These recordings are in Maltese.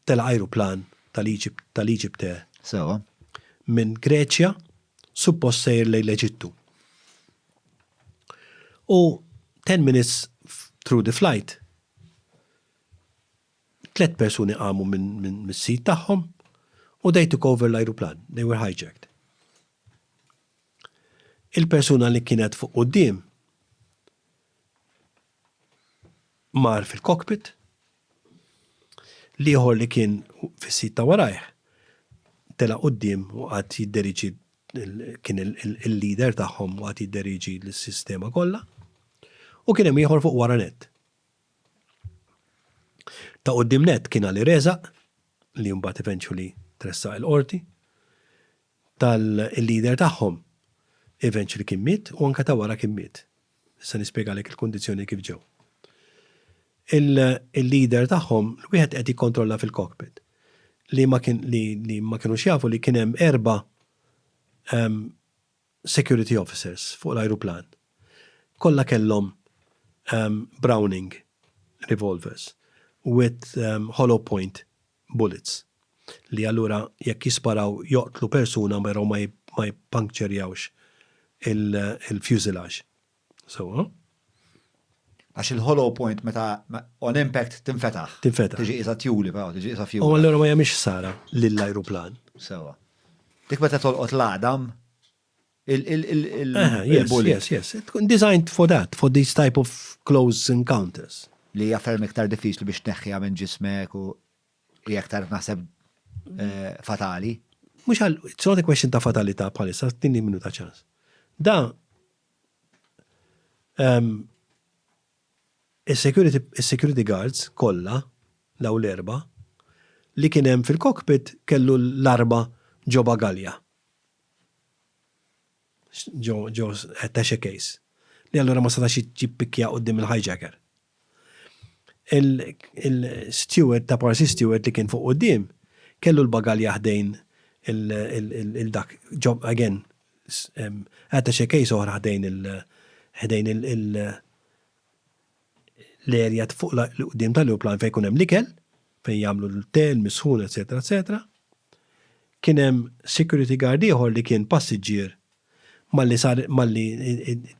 telaq ajruplan tal-Egyptair minn Greċja suppost sejjer lejn l-Eġittu. U ten minutes through the flight tliet persuni qamu mis-sit tagħhom u they took over l-ajruplan, they were hijacked. Il-persuna li kienet fuq quddiem mar fil-cockpit, l-ieħor li kien fis-sit ta' warajh telaq quddiem u qagħad jidderieġi kien il-leader tagħhom u qagħad jidderieġi l-sistema kollha u kien hemm ieħor fuq wara nett. Ta' quddiem nett kien Ali Rezaq li mbagħad eventually tressaq il-qorti. tal-leader tagħhom, events li kien miet u anke ta' wara kien miet. Issa nispjegalek il-kundizzjoni kif ġew. Il-leader tagħhom wieħed qed jikkontrolla fil-cockpit li ma kien li ma kinux jafu li kien hemm erba' security officers fuq l-ajruplan. Kollha kellhom Browning revolvers with hollow point bullets, li allura jekk jisparaw joqtlu persuna però ma jippankċerjawx il-fuselage. Sewwa? Għax il-hollow point meta on impact tinfetaħ. Tinfetaħ. Tiġi qisha tjuli però, tiġi qisha fjuwla. U allura ma jagħmilx ħsara lill-ajruplan. Sewwa. Dik meta tolqot l-għadam, il-bully. Yes, yes, yes. Tkun designed for that, for these type of close encounters. Li jaffer miktar diffiċli biex neħħija minn ġismek u jek tarf naħseb eh, fatali. Mux għal, it's not a question ta' fatalita bħalissa, tinni minnu ta' ċans. Da, ehm, il-security guards kolla, law l-erba, li kienem fil-cockpit kellu l-arba ġoba galja. Joe Attache Case, li allura ma setax jippikkja quddiem il-hijacker. Il-steward ta' Parsi Steward li kien fuq quddiem kellu l-bagalja ħdejn il-dak, again, Attache Case oħra ħdejn l-erja fuq l-qudiem tal-ajruplan fejn jkun hemm l-ikel, fejn jagħmlu l-te, l-misħun, eċetera, eċetera. Kien hemm security guard ieħor li kien passiġġier malli sar malli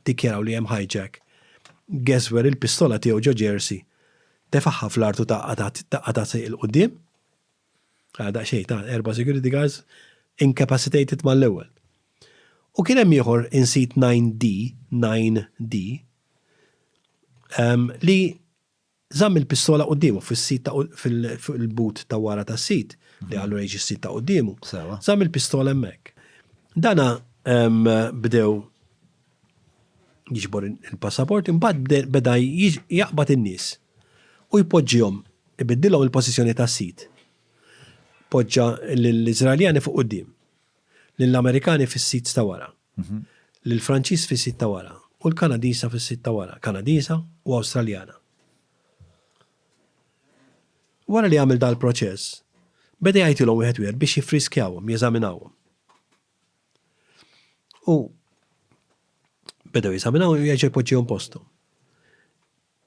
dikjaraw li hemm hijack. Geswer il-pistola tiegħu ġo ġersi, tefaħħa fl-artu taqqa' ta' sejq il-qudiem, Ara daqsxejn ta' erba' security guards incapacitated mal-ewwel. U kien hemm ieħor in seat 9D, 9D, ehm, li żamm il-pistola quddiemu fis-sit ta' fil-but ta' wara tas-sit li għallu rejġi s-sit ta' quddiemu. Żamm il-pistola hemmhekk. Dana ehm, bdew jiġbor il-passaport, imbagħad beda jaqbad in-nies u jpoġġihom, ibiddilhom il-pożizzjoni tas-sit. Poġġa lill-Iżraeljani fuq quddiem, lill-Amerikani fis-sit ta' wara, mhm. lill-Franċiż fis-sit ta' wara u l-Kanadiża fis-sit ta' wara, Kanadiża u Awstraljana. Wara li għamil dal-proċess, beda jgħidilhom wieħed wieħed biex jiffriskjawhom, jeżaminawhom. U beda jeżaminaw u jerġa' jpoġġihom posthom.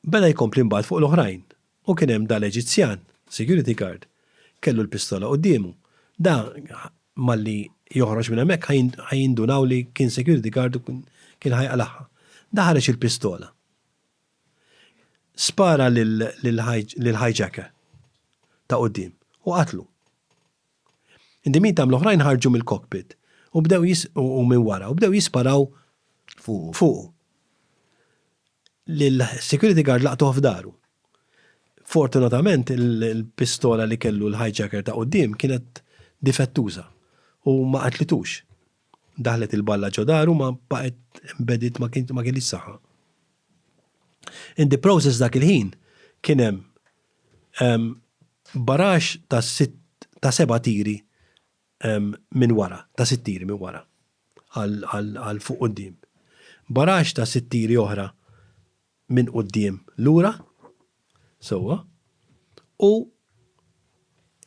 Beda jkompli mbagħad fuq l-oħrajn u kien hemm dal-Eġizzjan, security guard, kellu l-pistola quddiemu. Da malli joħroġ minn hemmhekk ħa jindunaw li kien security guard u kien ħa jaqlagħha. Da ħareġ il-pistola. Spara lill-hijacker ta' quddiem u qatlu. Dimita hemm l-oħrajn ħarġu mill-cockpit u bdew jis u minn wara u bdew jisparaw fuqu. Fuqu. L-security guard laqtuh f'daru. Fortunatament il-pistola li kellu l-hijacker ta' quddiem kienet difettuża u ma qatlitux. Daħlet il-balla ġo daru ma baqgħet embedded ma kienx ma kellhiex saħħa. In the process dak il-ħin kien hemm Barax ta' sitt ta' seba' tiri minn wara, ta' sitt tiri minn wara għal fuq quddiem. Barax ta' sitt tiri oħra minn quddiem lura, sewwa, u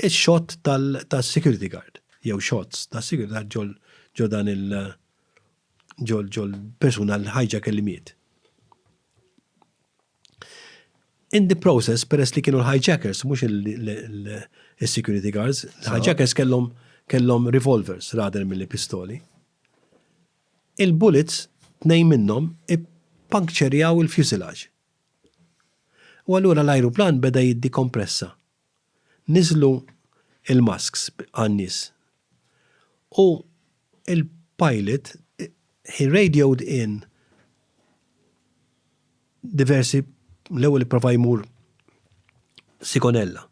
x-xott tas-security guard, jew shots tas-security guard ġol ġo dan il ġol persuna l-hijack li miet. In the process, peress li kienu l-hijackers, mhux il-security guards, l-hijackers kellhom kellhom revolvers rather mill pistoli. Il-bullets tnejn minnhom ippankċerjaw il-fuselage. U allura l-ajruplan beda jiddi kompressa Niżlu l-masks għan-nies u l-pilot he radioed in diversi l-ewwel ipprova jmur Sigonella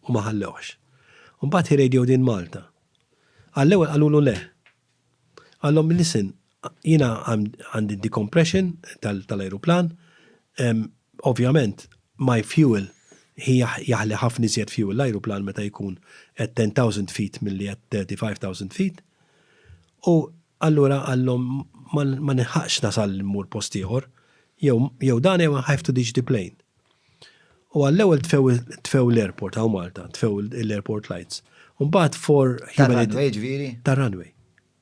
u ma ħallewhx. Imbagħad he radioed in Malta. Għall-ewwel qalulu le. Qallhom listen, Jiena għandi d-decompression tal-ajruplan, ovvjament my fuel jaħli ħafna iżjed fuel l-ajruplan meta jkun at 10,000 feet milli at 35,000 feet. U allura qalhom ma nilħaqx nasal immur post ieħor, jew dan jew I have to ditch the plane. U għall-ewwel tfew l-airport hawn Malta, tfew l-airport lights. Imbagħad for. Tar-runway ġifieri? Tar-runway.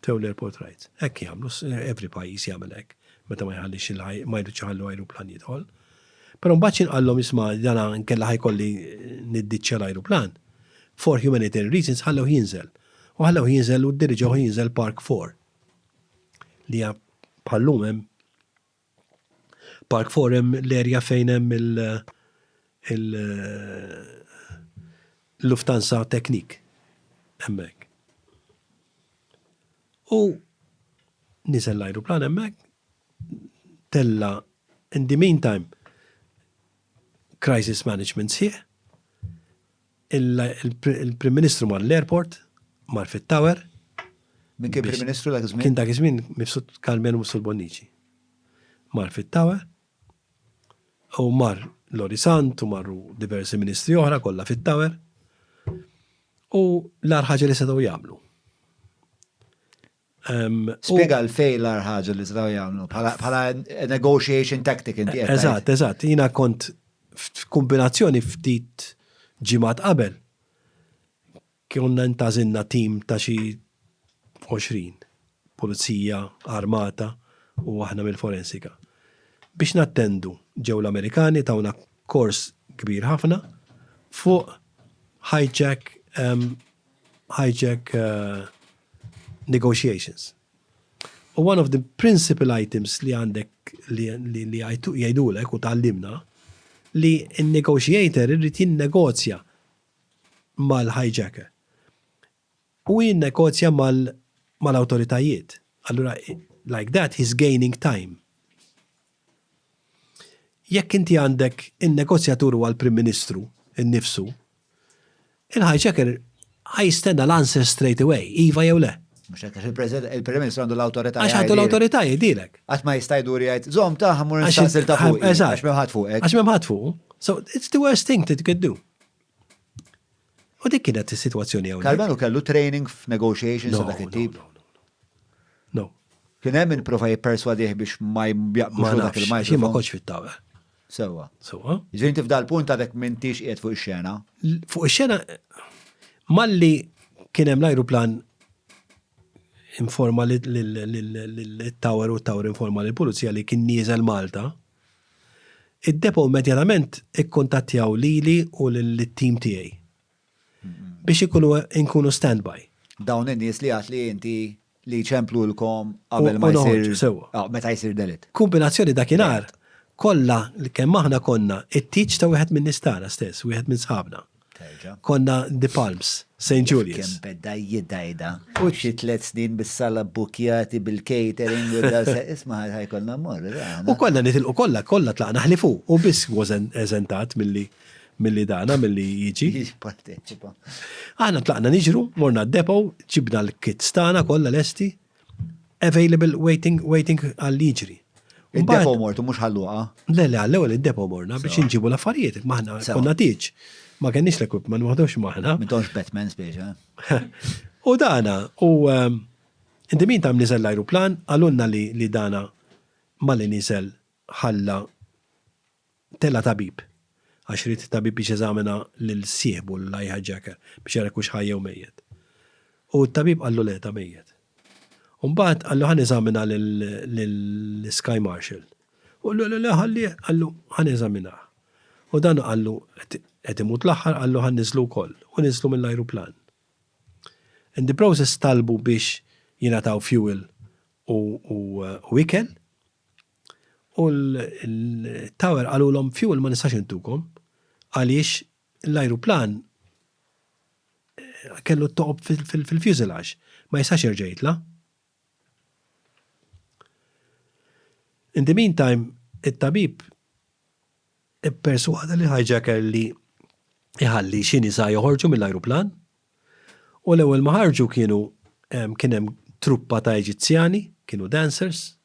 Towner Portraits. Hekk jagħmlu, every pajjiż jagħmel hekk, meta ma jħallix il-, ma jridx iħallu ajruplan jidħol. Però mbagħad xi nqallhom isma' dana inkella ħa jkolli niddiċċja l-ajruplan. For humanitarian reasons ħallewh jinżel. U ħallewh jinżel u ddiriġewh jinżel Park Four. Li bħal-lum hemm Park four hemm l-area fejn hemm il-Lufthansa Technik hemmhekk. U niżel l-ajruplan hemmhekk, tella' in the meantime crisis management sħiħ, Il-Prim Ministru mar l-airport, mar fit-tower. Min kien Prim Ministru dak iż-żmien? Kien dak iż-żmien Mifsud Karmenu Mifsud Bonnici. Mar fit-tower u mar Lori Sant u marru diversi ministri oħra kollha fit-tower. U l-ar ħaġa li setgħu jagħmlu. Spjega għalfejn l-agħar ħaġa li setgħu jagħmlu bħala negotiation tactic inti qed. Eżatt, eżatt. Jiena kont f'kumbinazzjoni ftit ġimgħat qabel konna ntażilna tim ta' xi 20 pulizija armata u aħna mill-forensika biex nattendu ġew l-Amerikani tawna kors kbir ħafna fuq hijack hijack negotiations. U one of the principal items li għandek li jgħidulek u tgħallimna li n-negotiator irrid jinnegozja mal-hijacker. U jinnegozja mal-awtoritajiet. Allura, like that, he's gaining time. Jekk inti għandek in-negozjatur huwa l-Prim Ministru nnifsu, il-hijacker ħa jistenna l-answer straight away, iva jew le. Mhux hekk għax il-Prim Ministru għandu l-awtorità. Għax għandu l-awtorità jgħidilek. Qatt ma jista' jdur jgħid, żomm ta' ħammur nistaqsil ta' fuq. Għax m'hemm ħadd fuqek. Għax m'hemm ħadd fuq. So it's the worst thing that you could do. U dik kienet is-sitwazzjoni hawnhekk. Carmelo kellu training f'negotiations ta' dak it-tip? No, no, no, no, no. No. Kien hemm min prova jipperswadih biex ma jaqbdux Ma fuq dak nafx, il-microphone. xi ma kontx fit-tawel. Sewwa. Sewwa. Jiġifieri inti f'dal punt għadek m'intix qiegħed fuq ix-xena? L- Fuq ix-xena malli kien hemm l-ajruplan informa lil- lil- lil- lil- lil-tower u t-tower informa lill-pulizija li kien nieżel Malta, Id-Depot immedjatament ikkuntattjaw lili u lit-tim tiegħi biex ikunu inkunu standby. Dawn in-nies li għedt li inti li jċemplulkom qabel ma jsir. Sewwa. Meta jsir delitt. Kumbinazzjoni dakinhar kollha kemm aħna konna it-tieġ ta' wieħed min-nies tagħna stess, wieħed minn sħabna. Terġa'. Konna The Palms, St. Julius. Kemm beda jidajda. U xi tliet snin bis-sala bukjati bil-catering u da isma' ħajkolna mmor. U konna nitilqu kollha, kollha tlaqna ħlifu u biss was eżentat milli milli dana, milli jiġi. Jipparteċipa. Aħna tlaqna niġru, morna d-depo, ġibna l-kits tagħna kollha lesti, Available waiting, waiting għal jiġri. Id-depo mortu mhux ħalluqa. Le, le, għall-ewwel id-depo morna biex inġibu l-affarijiet, maħna konna tiġ. Ma kenniex l-equipment, ma ħdux maħna. Mintonx Batman speċa. U dana, u ehm, inti min tam niżel l-ajruplan, għalunna li dana ma li niżel ħalla Tela' tabib, għax ried it-tabib biex jeżamina lil sieħbu, l-hijacker, biex jara jekk hux ħaj jew mejjet. U t-tabib qallu le, ta' mejjet. U mbagħad qallu ħa neżamina lill-Sky Marshal. U qallu le, le, ħallih, qallu ħa neżaminah. U dan qallu qed imut l-aħħar, qallu ħa nniżlu wkoll. U niżlu mill-ajruplan. In the process talbu biex jingħataw fuel u ikel. U l-tower qalulhom fuel ma nistax intukom għaliex l-ajruplan kellu t-toqob fil-fuselage, ma jistax jerġa' jitla'. In the meantime, it-tabib Ipperswada lill-hijacker li jħalli xi nisa joħorġu mill-ajruplan u l-ewwel ma ħarġu kienu kien hemm truppa ta' Eġizzjani, kienu dancers,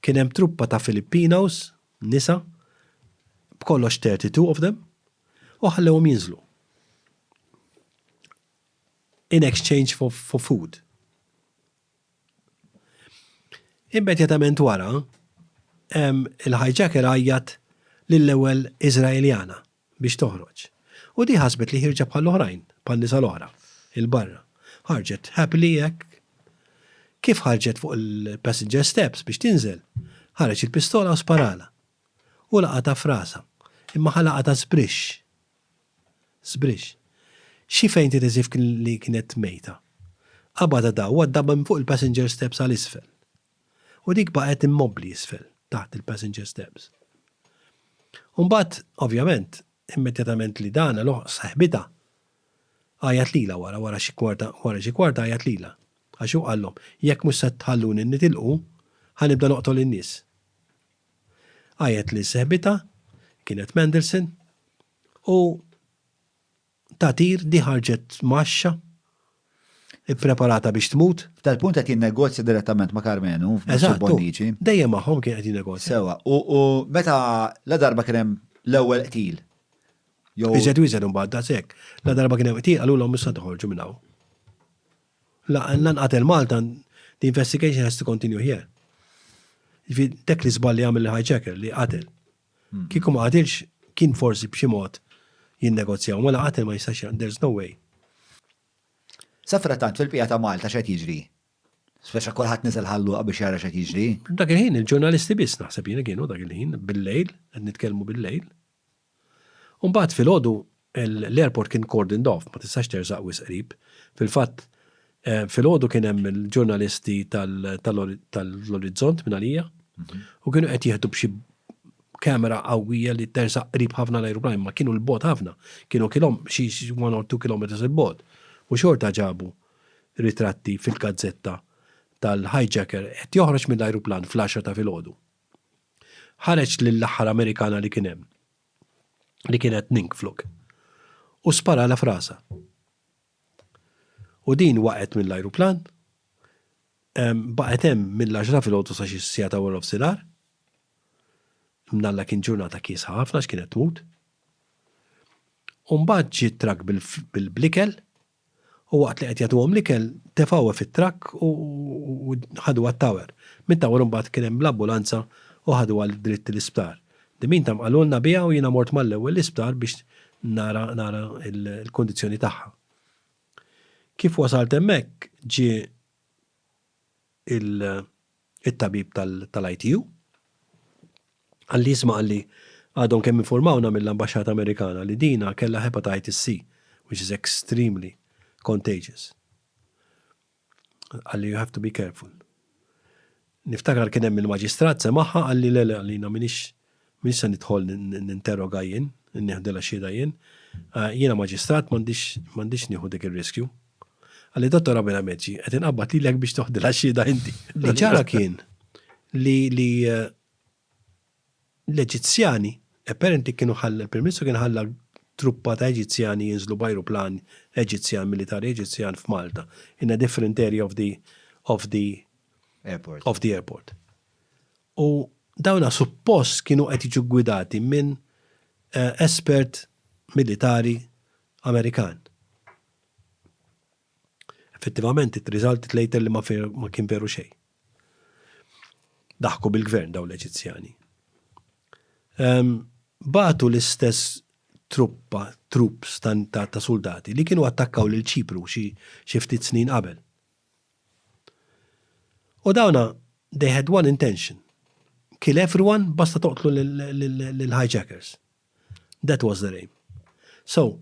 kien hemm truppa ta' Filipinos, nisa, b'kollox 32 of them, u ħallewhom jinżlu. In exchange for food. Immedjatament wara, il-hijacker għajjat lill-ewwel Iżraeljana biex toħroġ. U di ħasbet li ħierġa bħall-oħrajn, bħan-nisa l-oħra, 'il barra. Ħarġet happily hekk. Kif ħarġet fuq il-passenger steps biex tinżel, ħareġ il-pistola u sparalha. U laqatha f'rasha, imma ħa laqatha sbrixx. Sbriġ. Xi fejn tgħid as if li kienet mejta. Qabadha daw u għadda minn fuq il-passenger steps għal isfel. U dik baqgħet immobbli isfel, taħt il-passenger steps. U mbagħad, ovvjament, immedjatament li dan għeluh saħbitha għajat lilha wara, wara xi kwarta, wara xi kwarta għajat lilha. Għax hu qallhom, jekk mhux se tħalluni nitilqu, ħa nibda noqtol in-nies. Għajjat li sehbitha, kienet Mendelssohn, u tagħtir di ħarġet mgħaxxa, ippreparata biex tmut. F'dal-punt qed jinnegozja direttament ma' Karmenu, f'Bizzu Bonnici. Eżatt, hu. Dejjem magħhom kien qed jinnegozja. Sewwa. U meta ladarba kien hemm l-ewwel qtil, jew. Iżjed u iżjed imbagħad, daqshekk. Ladarba kien hemm qtil, qalulhom issa toħorġu minn hawn. La, la nqatel Malta, the investigation has to continue here. Ġifi, dak li żballi għamil l-hijacker li qatel. Hmm. Kieku ma qatilx, kien forsi b'xi mod jinnegozjaw, ma la qatel ma jistax, there's no way. Safra tant fil-pija ta' Malta xed jiġri. Speċa kolħat nizel ħalluqa biex jara xed jiġri. Dak il-ħin, il-ġurnalisti biss naħseb jina kienu dak il-ħin, bil-lejl, għed nitkelmu bil-lejl. U mbagħad filgħodu l-airport kien cordoned off, ma tistax tersaq wisq qrib. Fil-fatt, filgħodu kien hemm il-ġurnalisti tal-Orizzont minn għalija u kienu qed jieħdu b'xi kamera qawwija li tersaq qrib ħafna l-ajruplan, ma kienu l-bot ħafna, kienu kilhom xi 1 or 2 kilometers il-bot. U xorta ġabu ritratti fil-gazzetta tal-hijacker qed joħroġ mill-ajruplan fl-għaxra ta' filgħodu. Ħareġ lill-aħħar Amerikana li kien hemm, li kienet Ninkfluk, u sparalha f'rasha. U din waqgħet mill-ajruplan, baqgħet hemm mill-għaxra filgħodu sa xi siegħa ta' warnofsinhar, mnalla kien ġurnata kiesħa ħafna x'kienet tmut, u mbagħad ġie trakk bil-ikel, u waqt li qed jagħtuhom l-ikel tefgħuha fit-trakk u ħaduha t-tower. Mit-tower imbagħad kien hemm l-ambulanza u ħaduha dritt l-isptar. In the meantime qalulna biha u jiena mort mal-ewwel l-isptar biex nara nara l-kundizzjoni tagħha. Kif wasalt hemmhekk ġie il. it-tabib tal-ITU, qalli isma' qalli għadhom kemm infurmawna mill-Ambaxxata Amerikana li dina kellha hepatitis C which is extremely contagious. Qalli you have to be careful. Niftakar kien hemm il-maġistrat semagħha qalli le le għalina m'iniex M'iniex se nidħol ninterroga jien, nieħdilha xhieda jien. Jiena maġistrat m'għandix nieħu dik ir-riskju. Qalli, Dottor Abel Ameċi, qed inqabbad lilek biex toħdilha xhieda inti. Li ġara kien li l-Eġizzjani, apparently kienu ħalla, il-Prim Ministru kien ħalla truppa ta' Eġizzjani jinżlu b'ajruplan Eġizzjan, militari Eġizzjan f'Malta, in a different area of the airport. U dawna suppost kienu qed jiġu ggwidati minn espert militari Amerikan. Effettivament it-result later li ma kien veru xejn. Daħku bil-gvern dawn l-Eġizzjani. Bagħtu l-istess truppa, troops ta' suldati li kienu attakkaw lil Ċipru xi ftit snin qabel. U dawna they had one intention, kill everyone basta toqtlu lill-hijackers. That was their aim. So,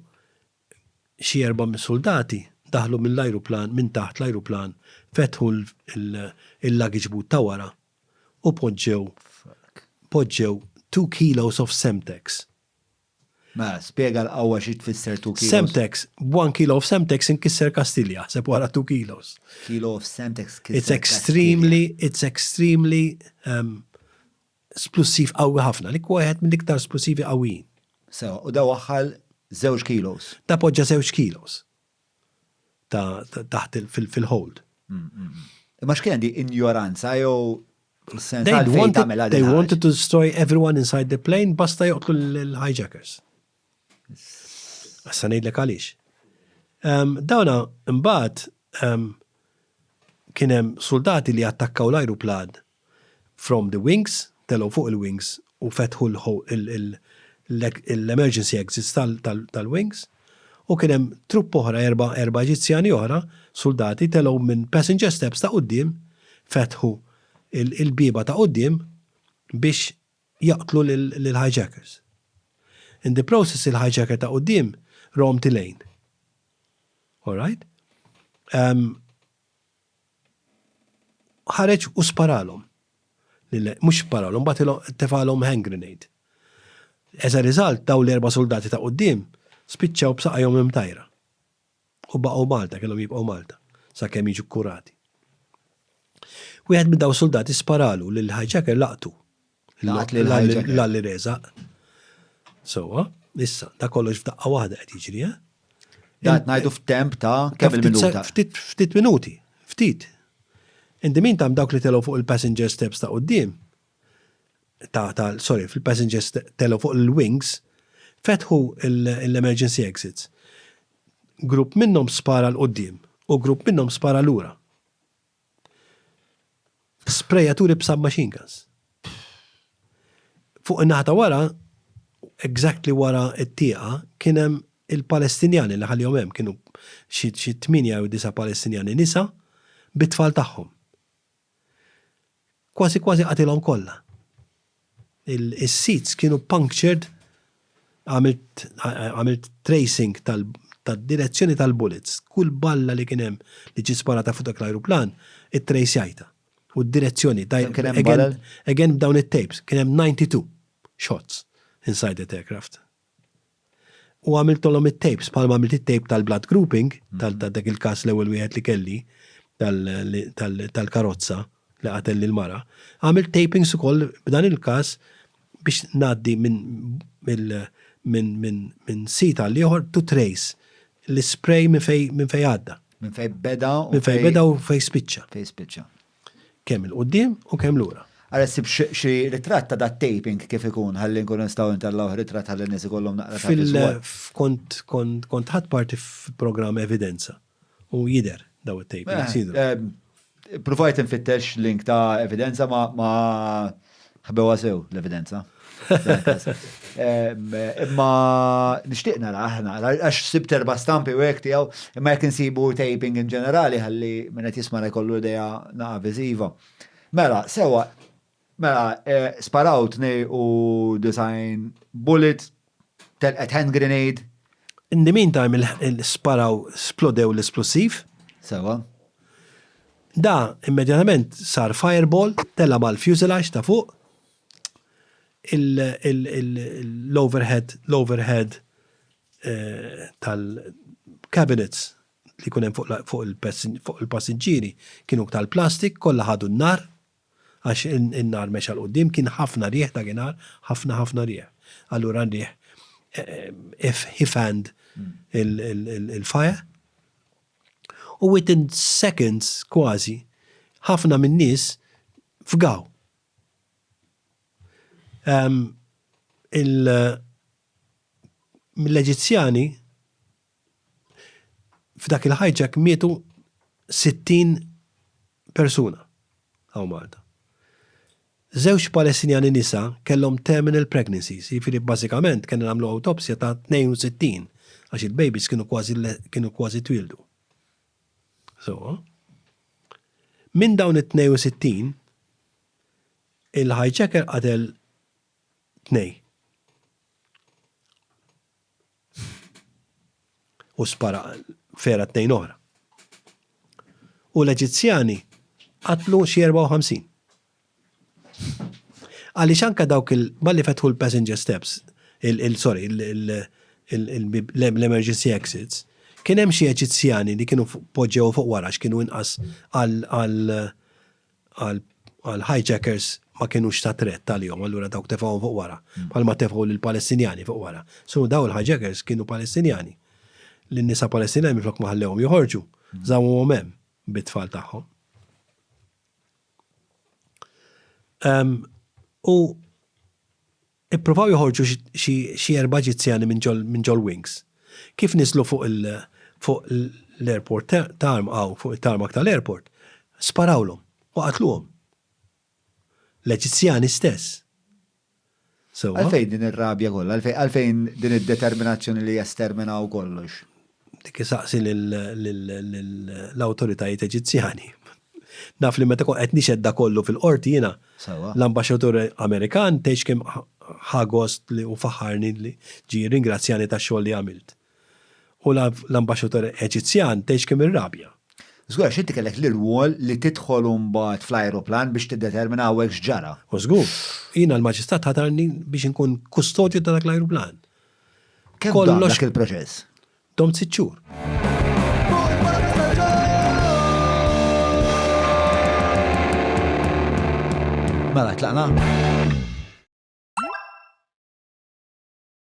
xi erba' mis-suldati daħlu mill-ajruplan, minn taħt l-ajruplan, fetħu l-luggage boot ta' wara u poġġew poġġew two kilos of Semtex. Mela, spjega l-qawwa xi tfisser two kilos. Semtex, b'one kilo of Semtex inkisser Kastilja, sepp wara two kilos. Kilo of Semtex tkisser Kastilja. It's extremely, it's extremely um, splussiv qawwi ħafna. Dik huwa wieħed mill-iktar splussivi qawwijin. Sewa, u da waħħal żewġ kilos. Da poġġa żewġ kilos. ta' taħt fil-hold. Imma x'kien di injoranza jew They wanted, they wanted to destroy everyone inside the plane basta joqtlu l-hijackers. Issa ngħidlek għaliex. Dawna mbagħad kien hemm soldati li attakkaw l-ajruplan From the wings, telgħu fuq il-wings u fetħu l-emergency exits tal-wings, u kien hemm trupp oħra, erba' Eġizzjani oħra, suldati, telgħu minn passenger steps ta' quddiem, fetħu l-bieba ta' quddiem biex jaqtlu lill-hijackers. In the process il-hijacker ta' quddiem roamed the lane. Alright? ħareġ u sparalhom. Mhux sparalhom, bagħtilhom tefagħlhom hand grenade. As a result, dawn l-erba' suldati ta' quddiem spiċċaw b'saqajhom imtajra. U baqgħu Malta, kellhom jibqgħu Malta, sakemm jiġu kkurati. Wieħed minn dawn is-suldati sparalu lill-hijacker laqtu. Laqat lil ħajġa. L-għalli reżaq. Sewwa, issa, da kollox f'daqqa waħda qed jiġri, eh? Dan ngħidu f'temp ta' kemm il-minuta? Ftit minuti, ftit. In the meantime dawk li telgħu fuq il-passenger steps ta' quddiem, ta' ta' sorry, fil-passenger telgħu fuq il-wings, fetħu l-emergency exits. Grupp minnhom spara l-qudiem u grupp minnhom spara lura. Sprejaturi b'sub-machine guns. Fuq in-naħa ta' wara, exactly wara t-tieqa, kien hemm il-Palestinjani li ħallihom hemm, kienu xi xi tmienja jew disa' Palestinjani nisa bit-tfal tagħhom. Kważi kważi qatilhom kollha. Is-seats kienu punctured għamilt tracing tad-direzzjoni tal-bullets. Kull balla li kien hemm li ġiet sparata fuq dak l-ajruplan ittrejsjajtha u d-direzzjoni again b'dawn it-tapes. Kien hemm 92 shots inside that aircraft. U għamiltolhom it-tapes, bħalma għamilt it-tape tal-blood grouping, tal-dak il-każ l-ewwel wieħed li kelli, tal-karozza li qatel lill-mara. Għamilt tapings ukoll b'dan il-każ biex ngħaddi minn sit għal ieħor to trace l-ispray minn fejn għadda. Minn fejn beda u fejn spiċċa. Fejn spiċċa. Kemm 'il quddiem u kemm lura. Ara ssib xi ritratt ta' dat-taping kif ikun ħalli nkunu nistgħu intallgħuh ritratt ħalli n-nies ikollhom naqra ta' viżwal. Fil-, kont ħadt parti f'programm Evidenza u jidher dawn it-tapings jidhru. Ppruvajt infittex link ta' Evidenza ma Ħbewha sew l-evidenza. Imma nixtieq nara aħna, għax sib terba stampi u hekk tiegħu, imma jekk insibu taping in ġenerali ħalli minn qed jisma' jkollu idea naqa' viżiva. Mela, sewa, mela, eh, sparaw tnej u design bullet Telqet hand grenade. In the meantime sparaw, splodew l-isplussiv. Sewwa. Da immedjatament sar fireball, tela' mal-fuselage ta' fuq. L-overhead, l-overhead tal-cabinets li jkun hemm fuq il-passiġġieri kienu tal-plastik, kollha ħadu n-nar. Għax in-nar mexa 'l quddiem, kien ħafna riħ dakinhar, ħafna ħafna riħ. Allura n-riħ he fanned il-fire u within seconds kważi ħafna min-nies fgaw. Mill-Eġizzjani F'dak il-hijack mietu 60 persuna hawn Malta. Żewġ Palestinjani nisa kellhom terminal pregnancies, jiġifieri bażikament kellna nagħmlu awtopsja ta' 62 għax il-babies kienu kważi kienu kważi twieldu. Sewwa. Minn dawn it-62 il-hijacker qatel tnejn. u spara fera tnejn oħra. U l-Eġizzjani qatlu xi 54. Għaliex anka dawk il-malli fetħu l-passenger steps, il-sorry, l-emergency exits, kien hemm xi Eġizzjani li kienu poġġew fuq wara x'kienu inqas għal għal hijackers ma kienux ta' tret għalihom, allura dawk tefgħuhom fuq wara, bħalma tefgħu lill-Palestinjani fuq wara. So dawn il-hijackers kienu Palestinjani. Lin-nisa Palestinjani minflok ma ħallewhom joħorġu, żammuhom hemm bit-tfal tagħhom. U Ippruvaw joħorġu xi erba' Eġizzjani minn ġol-wings. Kif niżlu fuq l-airport hawn fuq it-tarmac tal-airport, sparawlhom u qatluhom. L-Eġizzjani stess. Sewwa? Għalfejn din ir-rabja kollha? Għalfejn din id-determinazzjoni li jesterminaw kollox? Dik isaqsi lill-awtoritajiet Eġizzjani. Naf li meta kont qed nixhed da kollu fil-qorti jiena, l-ambaxxatur Amerikan tgħidx kemm ħa gost li u faħħarni li ġie jirringrazzjani tax-xogħol li għamilt. U l-ambaxxatur Eġizzjan tgħidx kemm irrabja. Żgur għax inti kellek l-irwol li tidħol u mbagħad fl-ajruplan biex tiddetermina hawnhekk x'ġara. U żgur. Jiena l-Maġistrat ħatarni biex inkun kustodju ta' dak l-ajruplan. Kemm dom Kollox- dak il-proċess? Dom sitt xhur. Mela tlaqna.